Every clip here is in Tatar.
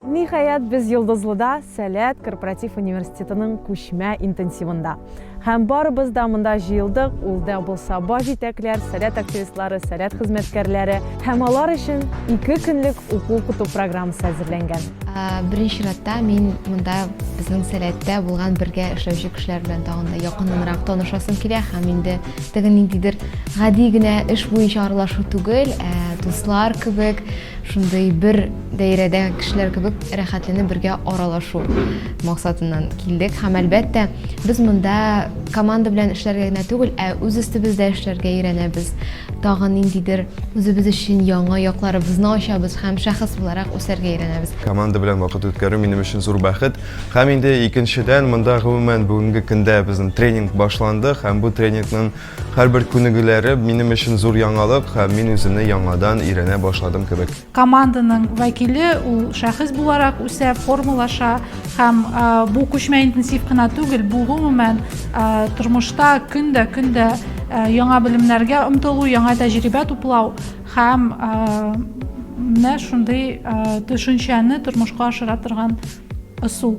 Ниһаять, без Йолдызлыда, Сәләт корпоратив университетының күчмә интенсивында. Һәм барыбыз да монда җыелдык, ул да булса баш җитәкләр, Сәләт активистлары, Сәләт хезмәткәрләре. Һәм алар өчен ике көнлек уку-укыту программасы әзерләнгән. Беренче чиратта мин монда безнең Сәләттә булган бергә эшләүче кешеләр белән тагын да якыннанрак танышасым килә һәм инде теге ниндидер гади генә эш буенча аралашу түгел, ә дуслар кебек шундый бер Даирәдәге кешеләр кебек рәхәтләнеп бергә аралашу максатыннан килдек. Һәм әлбәттә, без монда команда белән эшләргә генә түгел, ә үз өстебездә эшләргә өйрәнәбез. Тагын ниндидер үзебез өчен яңа якларыбызны ачабыз һәм шәхес буларак үсәргә өйрәнәбез. Команда белән вакыт үткәрү минем өчен зур бәхет. Һәм инде икенчедән, монда гомумән бүгенге көндә безнең тренинг башланды һәм бу тренингның һәрбер күнегүләре минем өчен зур яңалык һәм мин үземне яңадан өйрәнә башладым кебек. Команданың вәкиле ул шәхес буларак үсә, формалаша һәм бу күчмә интенсив кына түгел, бу гомумән тормышта көн дә көн дә яңа белемнәргә омтылу, яңа тәҗрибә туплау һәм менә шундый төшенчәне тормышка ашыра торган ысул.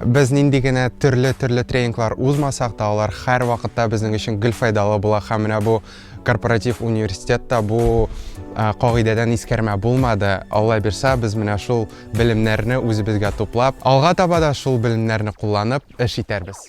Без нинди генә төрле-төрле тренинглар узмасак та, алар һәрвакытта безнең өчен гел файдалы була һәм менә бу корпоратив университетта бу кагыйдәдән искәрмә булмады. Алла бирса, без менә шул белемнәрне үзебезгә туплап, алга таба да шул белемнәрне кулланып эш итәрбез.